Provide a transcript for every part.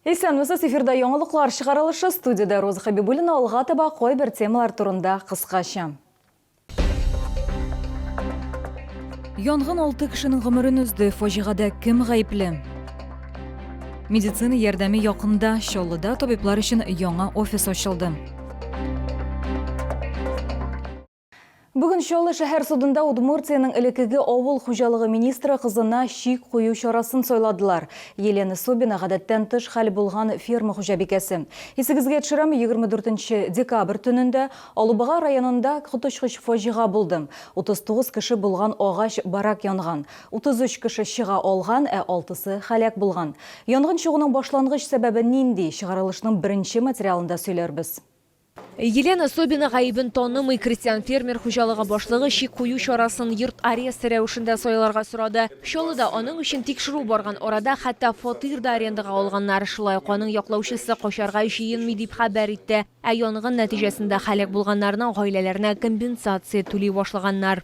Исәнмесез, эфирда яңалыклар чыгарылышы, студиядә Роза Хәбибуллина алга таба кайбер темалар турында кыскача. Янгын алты кешенең гомерен өзде, фаҗигадә кем гаепле? Медицина ярдәме якында Чаллыда табиблар өчен яңа офис ачылды. Бүген Чаллы шәһәр судында Удмуртиянең элеккеге авыл хуҗалыгы министры кызына чик кую чарасын сайладылар. Елена Собина гадәттән тыш хәл булган ферма хуҗабикәсе. Исегезгә төшерәм, 24 декабрь төнендә Алубага районында коточкыч фаҗига булды. 39 кеше булган агач барак янган. 33 кеше чыга алган, ә алтысы һәлак булган. Янгын чыгуның башлангыч сәбәбе нинди, чыгарылышның беренче материалында сөйләрбез. Елена Собина гаебен танымый, крестьян-фермер хуҗалыгы башлыгы чик кую чарасын йорт аресты рәвешендә сайларга сорады. Чаллыда аның өчен тикшерү барган арада, хәтта фатир да арендага алганнар. Шулай ук аның яклаучысы качарга җыенмый, дип хәбәр итте. Ә янгын нәтиҗәсендә һәлак булганнарның гаиләләренә компенсация түли башлаганнар.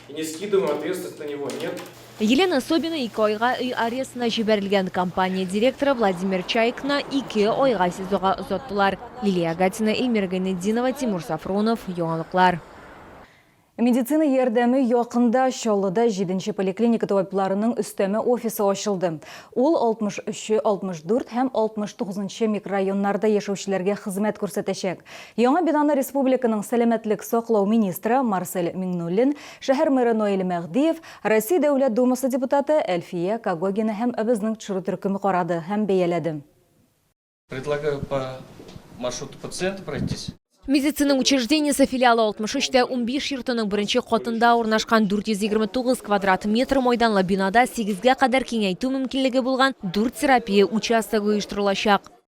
И не скидываем ответственность на него, нет? Елена Собина ике айга өй арестына җибәрелгән компания директоры Владимир Чайкны ике айга СИЗОга озаттылар. Лилия Гатина, Эльмира Гайнетдинова, Тимур Сафронов, Яңалыклар. Медицина ярдәме якында Чаллыда җиденче поликлиника табибларының өстәмә офисы ачылды. Ул 63, 64 һәм 69 нчы микрорайоннарда яшәүчеләргә хезмәт күрсәтәчәк. Яңа бинаны республиканың сәламәтлек саклау министры Марсель Миңнуллин, шәһәр мэры Наил Мәһдиев, Россия Дәүләт Думасы депутаты Әлфия Когогина һәм АБЭЗның төшерү төркеме карады һәм бәяләде. Предлагаю по маршруту пациента пройтись. Медицина учреждениесе филиалы 63 тә унбиш йортының беренче катында урнашкан 429 квадрат метр майданлы бинада сигезгә кадәр киңәйтү мөмкинлеге булган дүрт терапия участогы оештырылачак.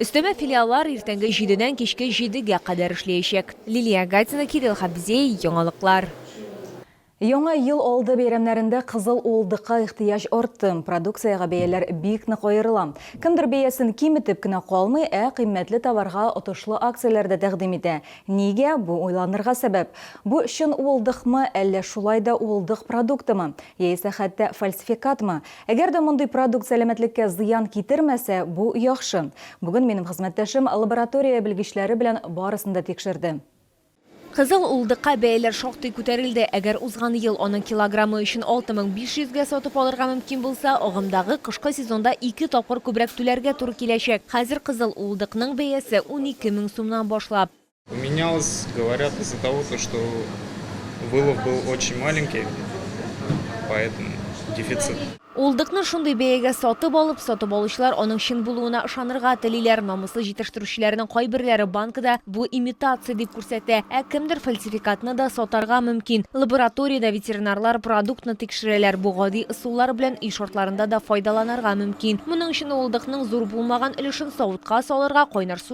Өстәмә филиаллар иртәнге җидедән кичке җидегә кадәр эшләячәк. Лилия Гатина, Кирилл Хабзей, Яңалыклар. Яңа ел алды бәйрәмнәрендә кызыл уылдыкка ихтыяҗ артты, продукциягә бәяләр бик нык аерыла. Кемдер бәясен киметеп кенә калмый, ә кыйммәтле товарга отышлы акцияләр дә тәкъдим итә. Нигә? Бу уйланырга сәбәп. Бу чын уылдыкмы, әллә шулай да уылдык продуктымы? Яисә хәтта фальсификатмы? Әгәр дә мондый продукт сәламәтлеккә зыян китермәсә, бу яхшы. Бүген минем хезмәттәшем лаборатория белгечләре белән барысын да тикшерде. Кызыл улдыкка бәяләр шактый күтәрелде. Әгәр узган ел аның килограммы өчен 6500 гә сатып алырга мөмкин булса, агымдагы кышкы сезонда ике тапкыр күбрәк түләргә туры киләчәк. Хәзер кызыл улдыкның бәясе 12 мең сумнан башлап. Менялось, говорят, из-за того, то, что вылов был очень маленький, поэтому дефицит. Улдыкны шундый бәягә сатып алып, сатып алучылар аның чын булуына ышанырга телиләр. Намыслы җитештерүчеләрнең кайберләре банкада бу имитация дип күрсәтә, ә кемдер фальсификатны да сатарга мөмкин. Лабораториядә ветеринарлар продуктны тикшерәләр. Бу гади ысуллар белән өй шартларында да файдаланырга мөмкин. Моның өчен улдыкның зур булмаган өлешен савытка салырга, кайнар су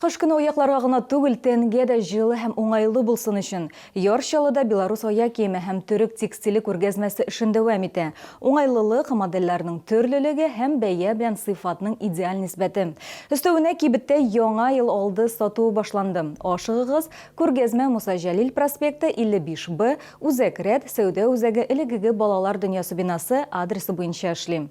Кыш көне аякларга гына түгел, тәнгә дә җылы һәм уңайлы булсын өчен, Яр Чаллыда Беларусь аяк киеме һәм төрек текстиле күргәзмәсе эшен дәвам итә. Уңайлылык, модельләрнең төрлелеге һәм бәя белән сыйфатның идеаль нисбәте. Өстәвенә, кибеттә Яңа ел алды сатуы башланды. Ашыгыгыз, күргәзмә Муса Җәлил проспекты, 55 Б, Үзәк рәт, сәүдә үзәге элегеге балалар дөньясы бинасы, адресы буенча эшли.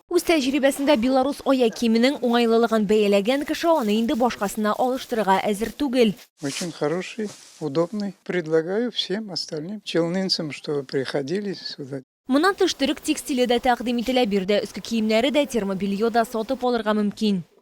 Үз тәҗрибәсендә белорус аяк киеменең уңайлылыгын бәяләгән кеше аны инде башкасына алыштырырга әзер түгел. Очень хороший, удобный, предлагаю всем остальным челнинцам, чтобы приходили сюда. Моннан тыш төрек текстиле дә тәкъдим ителә, биредә өске киемнәре дә, термобелье да сатып алырга мөмкин.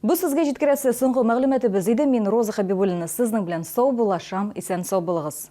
Бу сезгә җиткерәсе соңгы мәгълүматыбыз иде. Мин Роза Хәбибуллина сезнең белән сау булашам, исән сау булыгыз.